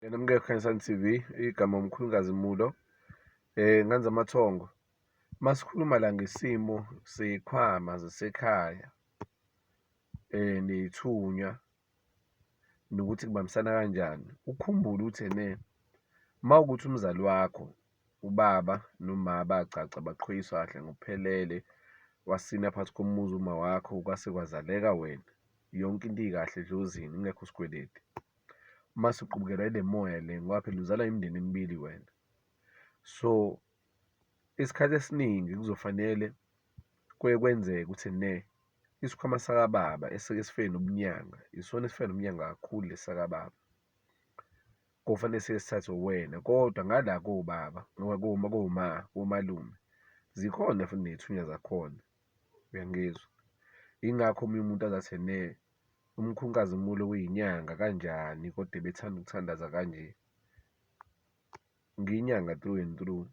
Yena mke Khanyisani TV igama umkhulukazi Mulo eh nganza amathongo masikhuluma la ngesimo sekhwama zasekhaya eh neyithunya nokuthi kubambisana kanjani ukhumbule ukuthi ene mawukuthi umzali wakho ubaba noma bagcagca baqhoyiswa kahle ngokuphelele wasina phansi komuzi uma wakho kwase kwazaleka wena yonke into ikahle edlozini ingekho sikweleti mase uqubukela ile moya le ngoba phela uzalwa imindeni emibili wena. So, isikhathi esiningi kuzofanele kuye kwenzeke ukuthi ne isikhwama sakababa esike sifike nobunyanga isona esifike nobunyanga kakhulu lesi sakababa. Kofanele siye sithathwe uwena kodwa ngala kobaba noma koma koma komalume zikhona futhi ney'thunywa zakhona, uyangizwa? Yingakho omunye umuntu azathi ne. umkhunkazimulo kuyinyanga kanjani kodwa ebethanda ukuthandaza kanje, ngiyinyanga through and through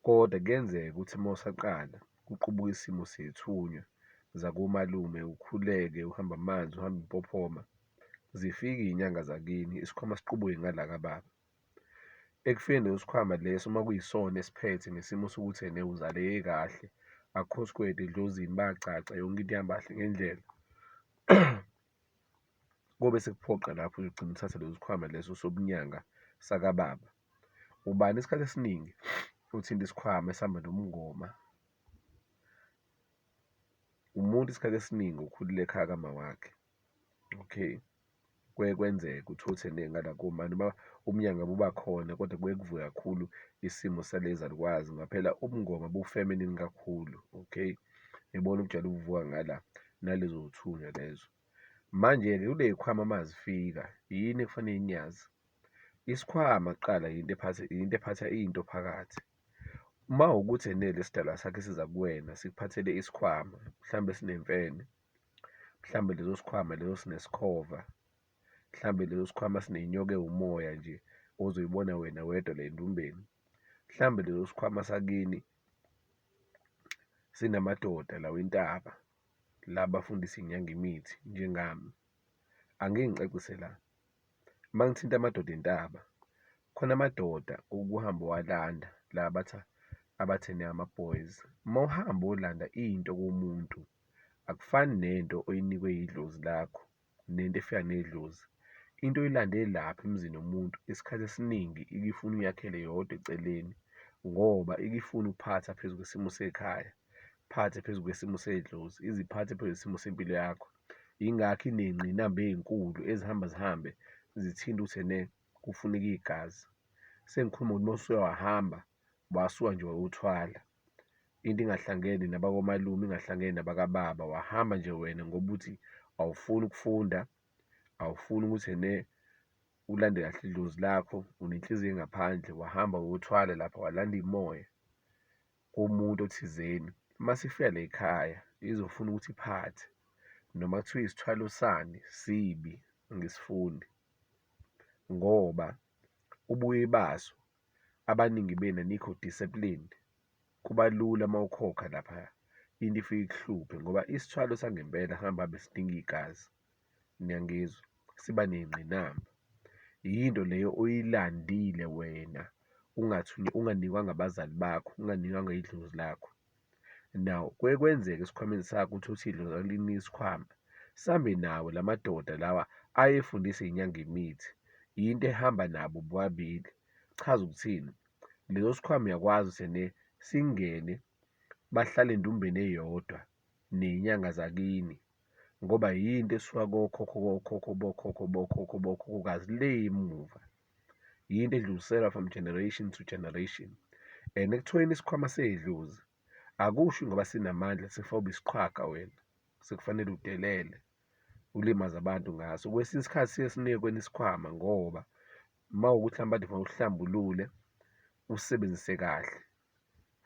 kodwa kuyenzeka ukuthi uma usaqala kuqubuke isimo sey'thunywa zakomalume ukhuleke uhambe amanzi uhambe umpophoma, zifike iy'nyanga zakini isikhwama siqubuke ngala kababa. Ekufeni nosikhwama leso uma kuyisona esiphethe ngesimo sokuthi ena uzaleke kahle, akukho sikweletu edlozini, bayacaca yonke into ihamba kahle ngendlela. Kobe sekuphoqa lapho uyogcina uthathe leso sikhwama leso sobunyanga sakababa. Ubani isikhathi esiningi othinta isikhwama esihamba nomngoma? Umuntu isikhathi esiningi okhulele ekhaya kamawakhe, okay. kuye kwenzeke ukuthi othende ngala kuma noma ubumnyama buba khona kodwa kuye kuvuke kakhulu isimo salezalukwazi ngoba phela ubungoma bu-feminine kakhulu, okay? Yibona ubujwayele ukuvuka ngala, nalezo y'thunywa lezo. Manje-ke kule y'khwama uma zifika, yini ekufanele niyazi? Isikhwama kuqala yinto ephatha, yinto ephatha into phakathi. Uma wukuthi enele isidalwa sakhe siza kuwena sikuphathele isikhwama, mhlawumbe sinemfene, mhlawumbe leso sikhwama leso sinesikhova, mhlawumbe leso sikhwama sinenyoka ewumoya nje ozoyibona wena wedwa la endumbeni, mhlawumbe leso sikhwama sakini sinamadoda lawa intaba la bafundisa inyanga imithi njengami. Angike ngicacise la, uma ngithinta amadoda entaba, khona amadoda okuhamba uwalanda la abatha abathene ama-boys, uma uhamba uyolanda into kumuntu akufani nento oyinikwe yidlozi lakho nento efika nedlozi. Into oyilande lapha emzini womuntu isikhathi esiningi ikifuna uyakhele yodwa eceleni ngoba ikifuna ukuphatha phezu kwesimo sekhaya, phathe phezu kwesimo sedlozi, iziphathe phezu kwesimo sempilo yakho. Yingakho iney'ngqinamba ey'nkulu ezihamba zihambe zithinte ukuthi ene kufuneka igazi. Sengikhuluma ngokuthi uma usuke wahamba wasuka nje wawuthwala. into ingahlangene nabakomalume ingahlangene nabakababa wahamba nje wena ngoba uthi awufuni ukufunda awufuni ukuthi ene ulande kahle idlozi lakho unenhliziyo engaphandle wahamba wothwala lapha walanda imoya komuntu othizeni uma sifika la ekhaya izofuna ukuthi iphathe noma kuthiwa isithwalo sani sibi ngisifuni ngoba ubuye baso abaningi benu anikho disciplined kuba lula uma ukhokha laphaya into ifike ikuhluphe ngoba isithwalo sangempela hamba hambe sidinga igazi niyangizwa siba ney'ngqinamba yinto leyo oyilandile wena unganikwa ngabazali bakho unganikwanga idlozi lakho. Now kuye kwenzeke esikhwameni sakho ukuthi uthidlo zakulini isikhwama sambe nawo la madoda lawa ayefundisa inyanga imithi yinto ehamba nabo bobabili chaza ukuthini leso sikhwama uyakwazi sene singene bahlale endumbeni eyodwa nenyanga zakini ngoba yinto esuka kokhokho kokhokho bokhokho bokhokho bokhokhokazi le emuva. yinto edluliselwa from generation to generation and ekuthiweni isikhwama seyidlozi akusho ngoba sinamandla sifobe isiqhwaga wena sekufanele udelele ulimaze abantu ngaso kwesinye isikhathi siye sinike kweni isikhwama ngoba uma ukuthi mhlawumbe ade fanele uhlambulule usebenzise kahle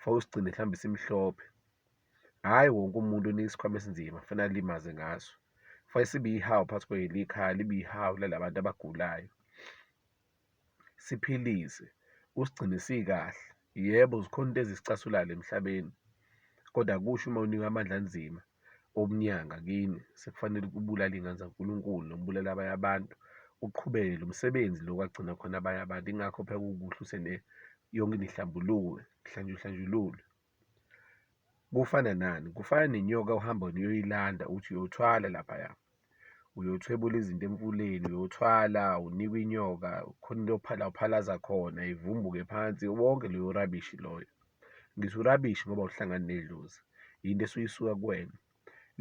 fanele usigcine mhlawumbe simhlophe hhayi wonke umuntu unika isikhwama esinzima fanele alimaze ngaso fanele sibe ihawu phakathi kwelikhaya libe ihawu lalabantu abagulayo siphilise usigcine sikahle yebo zikhona into ezisicasulayo emhlabeni kodwa kusho uma unikwa amandla anzima obunyanga kini sekufanele ukubulala iy'ngane zaNkulunkulu noma ubulala abanye abantu uqhubeke lo msebenzi lo kwagcina khona abanye abantu ingakho phela kukuhle usene yonke nihlambuluke kuhlanjulwe kufana nani kufana nenyoka ohamba niyoyilanda uthi uyothwala laphaya uyothwebula izinto emfuleni uyothwala unikwe inyoka khona into ophala uphalaza khona ivumbuke phansi wonke loyo rubbish loyo. Ngithi u-rubbish ngoba awuhlangani nedlozi, yinto esuke isuka kuwena.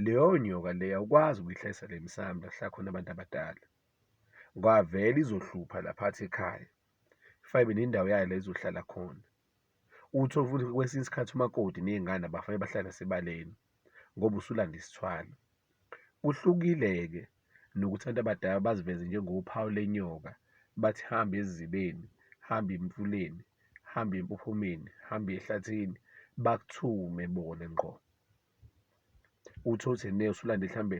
Leyo nyoka leyo awukwazi ukuyihlalisa la emsamo la kuhlala khona abantu abadala, kwavele izohlupha la phakathi ekhaya, fayibe nendawo yayo la izohlala khona. Uthole futhi kwesinye isikhathi umakoti nezingane abafane bahlale nasebaleni ngoba usulanda isithwalo. Kuhlukile-ke nokuthi abantu abadala baziveze njengophawu lenyoka, bathi hamba ezibeni, hamba emfuleni, hamba empophomeni, hamba ehlathini, bakuthume bona ngqo. Uthole ukuthi usulandile mhlawumbe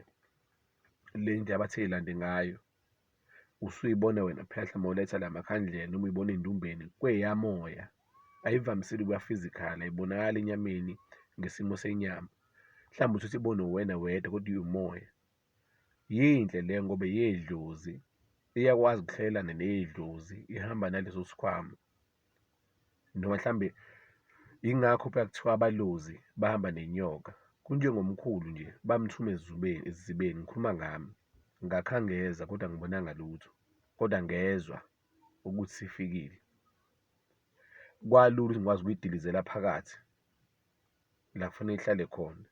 le ndlela abathe yilande ngayo. Usuyibona wena phehla uma uletha la makhandlela noma uyibona endumbeni kweyamoya, ayivamisile ukuba physical, ayibonakali enyameni ngesimo senyama. Mhlawumbe uthi ibone uwena wedwa kodwa iwumoya. Yinhle le ngoba yedlozi, iyakwazi ukuhlelelana neyedlozi, ihamba naleso sikhwama. noma mhlambe yingakho phela kuthiwa abalozi bahamba nenyoka kunjengomkhulu nje bamthuma ezubeni ezibeni ngikhuluma ngami ngakhangeza kodwa ngibonanga lutho kodwa ngezwa ukuthi sifikile kwalula ukuthi ngikwazi ukuyidilizela phakathi la kufanele ihlale khona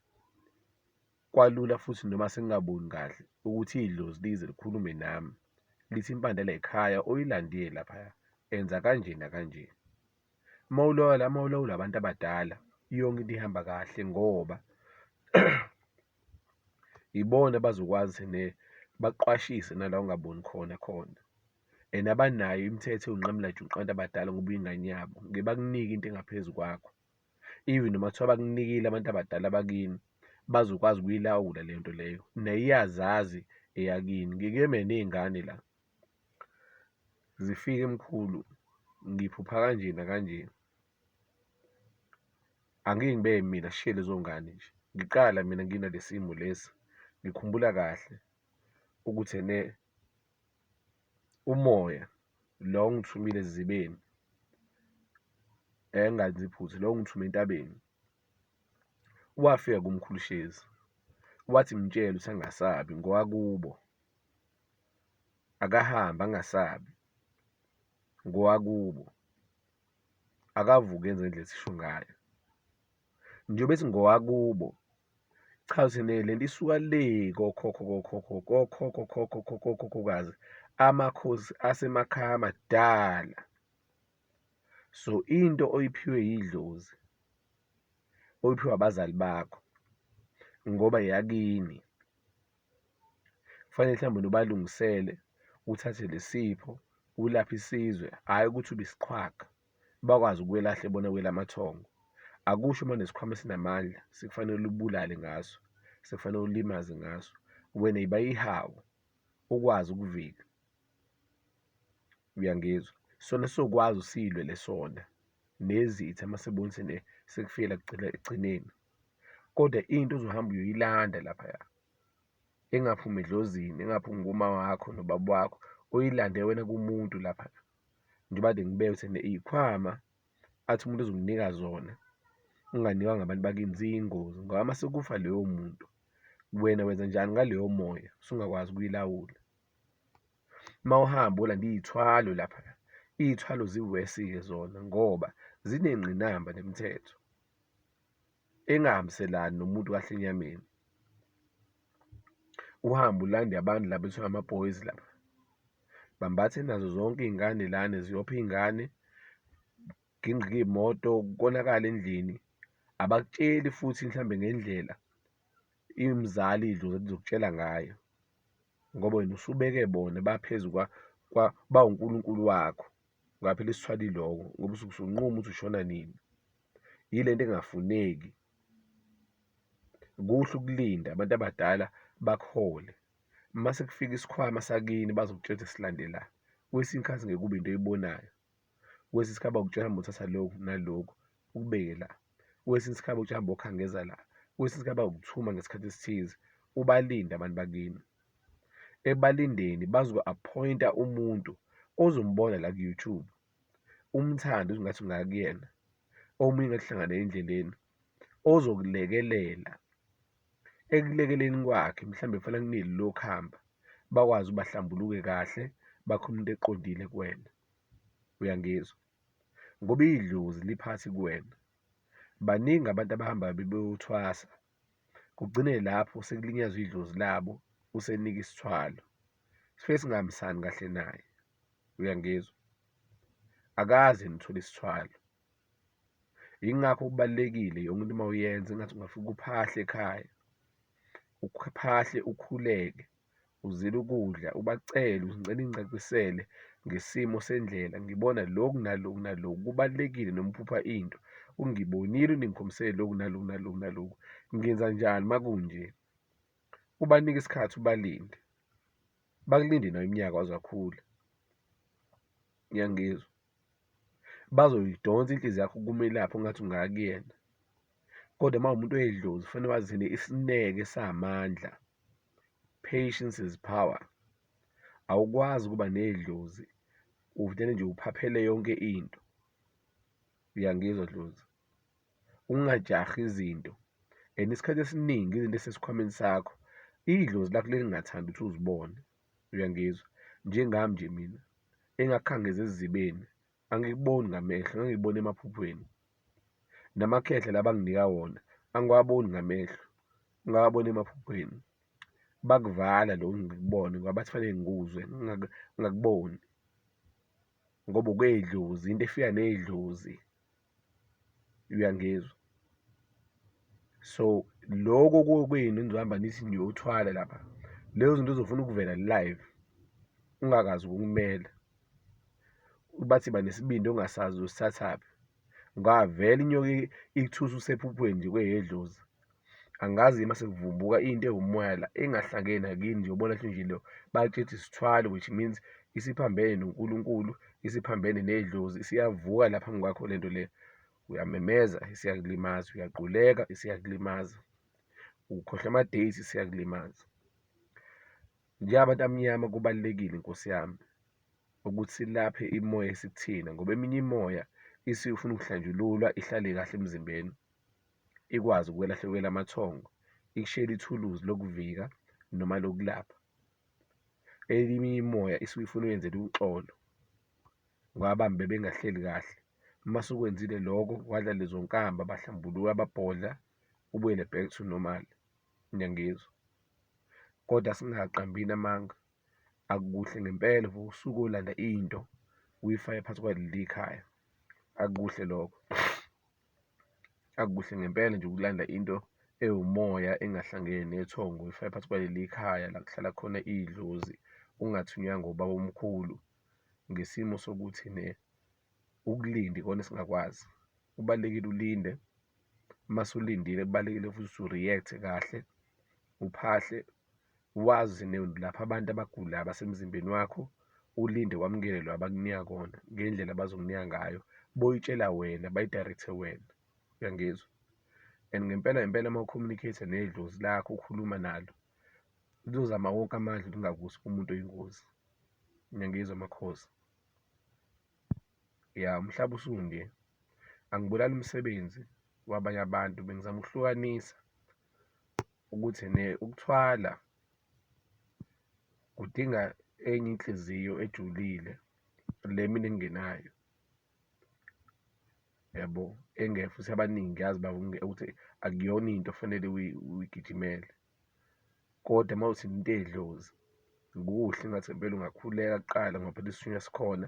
Kwalula futhi noma sengingaboni kahle ukuthi idlozi lize likhulume nami lithi impande layikhaya oyilandile laphaya enza kanje nakanje. Uma ulawula uma ulawula abantu abadala yonke into ihamba kahle ngoba ibona abazokwazi ne baqwashise nala ongaboni khona khona and abanayo imithetho yonqamula juqu abantu abadala ngoba uyingane yabo ngeke bakunike into engaphezu kwakho. even noma kuthiwa bakunikile abantu abadala bakini bazokwazi ukuyilawula le nto leyo naye iyazazi eyakini ngike meney'ngane la zifike mkhulu ngiphupha kanje nakanje angike ngibe mina sishiye lezo ngane nje ngiqala mina nginalesimo lesi ngikhumbula kahle ukuthi ene Umoya lo ongithumile ezizibeni engenzi phutha lo ongithume entabeni wafika kuMkhulu Shezi wathi mtshele ukuthi angasabi ngowakubo akahambe angasabi ngowakubo akavuke enze ngendlela esisho ngayo. njengoba singowakubo cha sine le nto isuka le kokhokho kokhokho kokhokho khokho kokhokhokazi amakhosi asemakhaya amadala so into oyiphiwe yidlozi oyiphiwe abazali bakho ngoba yakini kufanele mhlawumbe nobalungisele uthathe lesipho ulaphe isizwe hhayi ukuthi ubisiqhwaga bakwazi ukwelahla ebona kwela amathongo akusho uma nesikhwama esinamandla sikufanele ulibulale ngaso sekufanele ulimaze ngaso wena yiba ihawu ukwazi ukuvika uyangizwa sona sokwazi usilwe lesona nezitha uma sebona sene sekufike la ekugcineni kodwa into ozohamba uyoyilanda laphaya engaphumi edlozini engaphumi kuma wakho nobaba wakho uyilande wena kumuntu lapha njengoba kade ngibeka ukuthi ena iy'khwama athi umuntu ozomnika zona unganikwa ngabantu bakini ziyingozi ngoba uma sekufa loyo muntu wena wenza njani ngaleyo moya usungakwazi ukuyilawula uma uhamba olanda iy'thwalo lapha iy'thwalo ziwesi-ke zona ngoba zinengqinamba nemithetho. engahambiselani nomuntu kahle enyameni uhambe ulande abantu laba kuthiwa ama-boys laba bambathe nazo zonke iy'ngane lana ziyopha iy'ngane kugingqike iy'moto konakala endlini abakutsheli futhi mhlawumbe ngendlela imzali idlozi elizokutshela ngayo ngoba wena usubeke bona baphezu bawunkulunkulu wakho ungaphela isithwala iloko ngoba usuke usunquma ukuthi ushona nini. yile nto engafuneki. Kuhle ukulinda abantu abadala bakuhole uma sekufika isikhwama sakini bazokutshela ukuthi silandela kwesinye isikhathi ngeke kube into oyibonayo kwesinye isikhathi bakutshela hamba uthatha lokhu nalokhu ukubeke la kwesinye isikhathi bakutshela hamba okhangeza la kwesinye isikhathi bakuthuma ngesikhathi esithize ubalinde abantu bakini ebalindeni bazoku-appointa umuntu ozombona la ku-YouTube umthande uze ngathi ungaya kuyena, omunye ngathi uhlangane naye endleleni ozokulekelela ekulekeleni kwakhe mhlawumbe kufanele akuneli lokuhamba bakwazi ukuba bahlambuluke kahle bakhe umuntu eqondile kuwena. Uyangizwa? Ngoba idlozi liphansi kuwena. Baningi abantu abahamba bebeyothwasa kugcine lapho sekulinyazwa idlozi labo usenika isithwalo sifike singahambisani kahle naye. uyangizwa akaze nithole isithwalo yingakho kubalekile yonke into uma uyenza ingathi ungafika uphahle ekhaya uphahle ukhuleke uzile ukudla ubacele uzicela incacisele ngesimo sendlela ngibona lokhu naloku naloku kubalekile noma uphupha into ungibonile uningikhombisele lokhu naloku naloku naloku ngenza njani makunje ubanike isikhathi ubalinde Bakulinde nayo iminyaka waze wakhula. Uyangizwa? Bazoyidonsa inhliziyo yakho kumelaphi ongathi ungaya kuyena. Kodwa uma umuntu oyedlozi kufanele wazine isineke samandla. Patience is power. Awukwazi ukuba nedlozi uvele nje uphaphele yonke into. Uyangizwa dlozi? ungajahi izinto and isikhathi esiningi izinto esesikhwameni sakho idlozi lakho lelingathandi ukuthi uzibone uyangizwa njengami nje mina engakhangeza ezizibeni angikuboni ngamehlo ngangikubona emaphuphweni namakhehla labanginika wona angiwaboni ngamehlo ngawabona emaphuphweni bakuvala lokhu ngikubone ngoba bathi fanele ngikuzwe ngingakuboni ngoba kwedlozi into efika nedlozi uyangizwa so loko kokwenu nizohamba nithi niyothwala lapha lezo zinto zofuna ukuvela live ungakazi ukumela bathi banesibindi ongasazi usithathaphi ngavela inyoka ikuthusa usephuphweni nje kweyedlozi angazi uma sekuvumbuka into ewumoya la engahlangene nakini njengobona nje lo bakithi sithwale which means isiphambene noNkulunkulu isiphambene nedlozi isiyavuka la phambi kwakho lento le uyamemeza isiyakulimaza uyaquleka isiyakulimaza ukhohlwa ama-date siyakulimaza njengabantu amnyama kubalulekile inkosi yami ukuthi silaphe imoya esikuthina ngoba eminye imoya isifuna ukuhlanjululwa ihlale kahle emzimbeni ikwazi ukwelahlekela amathongo ikushiyele ithuluzi lokuvika noma lokulapha elinye imoya isuke ifuna uyenzela uxolo ngabambe bengahleli kahle uma sukwenzile lokho wadla lezo nkamba bahlambuluka babhodla ubuyele back to normal niyangizwa kodwa singaqambini amanga akukuhle ngempela for usuke olanda into uyifake phansi kwaleli khaya akukuhle lokho Akukuhle ngempela nje ukulanda into ewumoya engahlangene nethongo uyifake phakathi kwaleli khaya la kuhlala khona idlozi ungathunywanga ubaba omkhulu ngesimo sokuthi ne ukulinde ikona esingakwazi. Kubalulekile ulinde mase ulindile kubalulekile futhi ukuthi u-react-e kahle uphahle wazi lapha abantu abagulayo abasemzimbeni wakho ulinde wamukele lo abakunika kona ngendlela abazokunika ngayo boyitshela wena bayidirecthe wena uyangizwa and ngempela ngempela uma ucommunicate nedlozi lakho ukhuluma nalo lizozama wonke amandla ukungakusi umuntu oyingozi ngiyangizwa makhosi ya umhlaba usunge angibulali umsebenzi wabanye abantu bengizama ukuhlukanisa ukuthi ukuthwala kudinga enye inhliziyo ejulile le mina engingenayo yabo, engeke futhi abaningi ngiyazi ukuthi akuyona into ofanele uyigijimele kodwa uma uthi into eyedlozi kuhle engathi ngempela ungakhuleka kuqala ngoba phela isithunywa sikhona.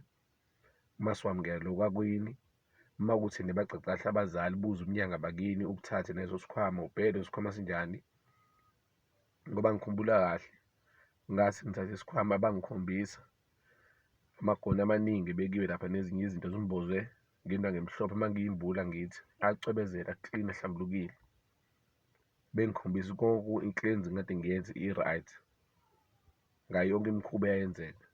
masiwamukela lokhu akwini uma kuthi nibagcagcahle abazali buze umnyanga bakini ukuthathe neso sikhwama ubhede sikhwama sinjani ngoba ngikhumbula kahle ngathi ngithathe isikhwama bangikhombisa amagoni amaningi ebekiwe lapha nezinye izinto zimboze ngento ngemhlophe uma ngiyimbula ngithi acwebezela clean ahlambulukile bengikhombisa konke i-cleansing kade ngiyenze i-right ngayo yonke imikhuba eyayenzeka.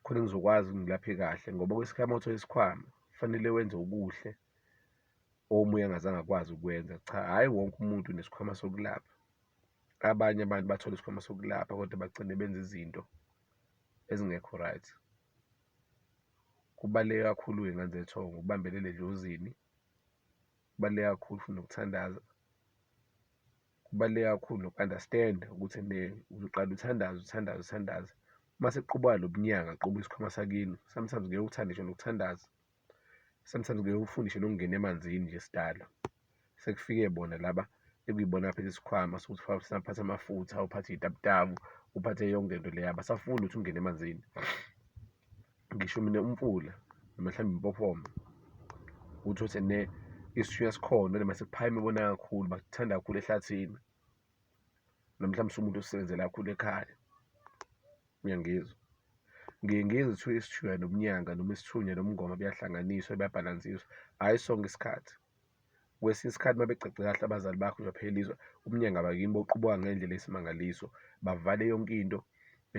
khona ngizokwazi ukuthi ngilaphe kahle ngoba kwesikhathi uma uthole isikhwama kufanele wenze okuhle omunye angazange akwazi ukwenza. Cha, hhayi wonke umuntu unesikhwama sokulapha, abanye abantu bathola isikhwama sokulapha kodwa bagcine benza izinto ezingekho right. Kubaluleke kakhulu-ke ngane zethongo ukubambelele edlozini, kubaluleke kakhulu futhi nokuthandaza. kubaluleke kakhulu noku-understand-a ukuthi ene uzoqale uthandaze, uthandaze, uthandaze. Uma sekuqubuka lo mnyaka, kuqubuke isikhwama sakini, sometimes ngeke uthande ngisho nokuthandaza, sometimes ngeke ufune ngisho nokungena emanzini nje sidalwa. Sekufike bona laba ekuyibona abaphethe isikhwama sokuthi mhlawumbe uphathe amafutha, uphathe iy'taputapu, uphathe yonke into le, abasafuni ukuthi ungene emanzini. ngisho mina umfula noma mhlawumbe impofoma uthi othi ne isithunywa sikhona noma sekuphayima ibona kakhulu bakuthanda kakhulu ehlathini noma mhlawumbe sumuntu osebenzela kakhulu ekhaya uyangizwa ngiye ngizwe kuthiwa isithunywa nomnyanga noma isithunywa nomngoma buyahlanganiswa buyabhalansiswa hhayi sonke isikhathi Kwesinye isikhathi uma becace kahle abazali bakho uzophela izwe, umnyanga bakini boqubuka ngendlela eyisimangaliso, bavale yonke into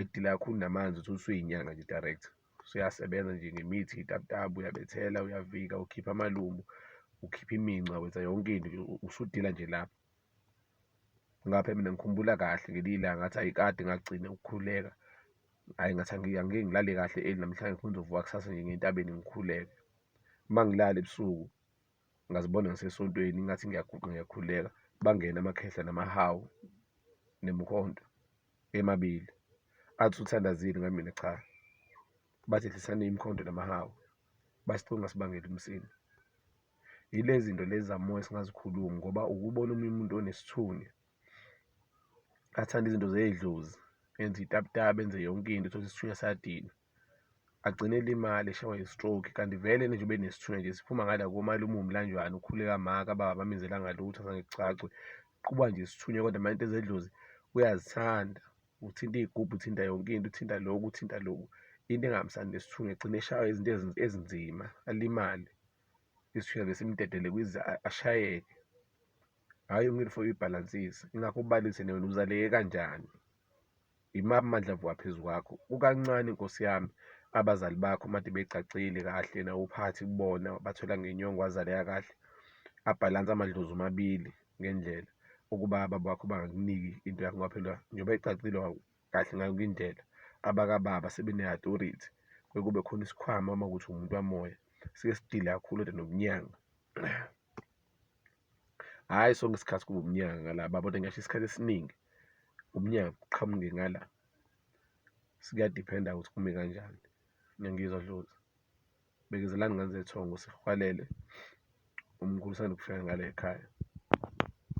edila kakhulu namanzi uthole usuyinyanga nje direct. Usuyasebenza nje ngemithi iy'tabutabu, uyabethela, uyavika, ukhipha amalumbu, ukhipha iminca, wenza yonke into nje usudila nje lapho. Ngapha mina ngikhumbula kahle ngelinye ilanga ngathi ayi kade ngagcina ukukhuleka, ayi ngathi angike angike ngilale kahle early namhlanje ngifuna ukuzovuka kusasa nje ngiye entabeni ngikhuleke. Uma ngilala ebusuku. ngazibona ngisesontweni ingathi ngiyaguqa ngiyakhuleka bangene amakhehla namahawu nemkhonto emabili athi uthandazile ngamina cha bathi hlisani imkhonto namahawu basicunga sibangele umsini yilezi zinto lezi zamoya singazikhulumi ngoba ukubona omunye umuntu onesithunywa athanda izinto zedlozi enze itaputapa enze yonke into uthole isithunywa sadina agcine elimale eshawa i-stroke kanti vele nje ube nesithunywa nje siphuma ngala komalume uwumlanjwana ukhule kamaka baba bamenzela ngalutho azange kucacwe kuqhuba nje isithunywa kodwa manje into zedlozi uyazithanda uthinta iy'gubhu uthinta yonke into uthinta loku uthinta loku into engahambisani nesithunywa egcine eshawa izinto ezinzima alimale isithunywa besimdedele kwize ashayeke hhayi ngilifo ibhalansisa ingakho ubalise newena uzaleke kanjani. Yimaphi amandla avuka phezu kwakho? Kukancane, nkosi yami, abazali bakho made begcagcile kahle nawuphathi kubona, bathola ngenyongo wazaleka kahle, abhalansa amadlozi omabili ngendlela ukuba ababa wakho bangakuniki into yakho ngoba phela njengoba ecacile kahle ngayo indlela, abakababa sebene-authority kuye kube khona isikhwama uma kuwukuthi uwumuntu wamoya, siye sidile kakhulu kodwa nokunyanga. hhayi sonke isikhathi kuba umnyaka ngala babona ngasho isikhathi esiningi umnyaka kuqhamuke ngala siyadiphenda ukuthi kume kanjani ngiyangizwa dlozi bekezelani ngane zethongo sihwalele umkhulu usanda kufika ngale ekhaya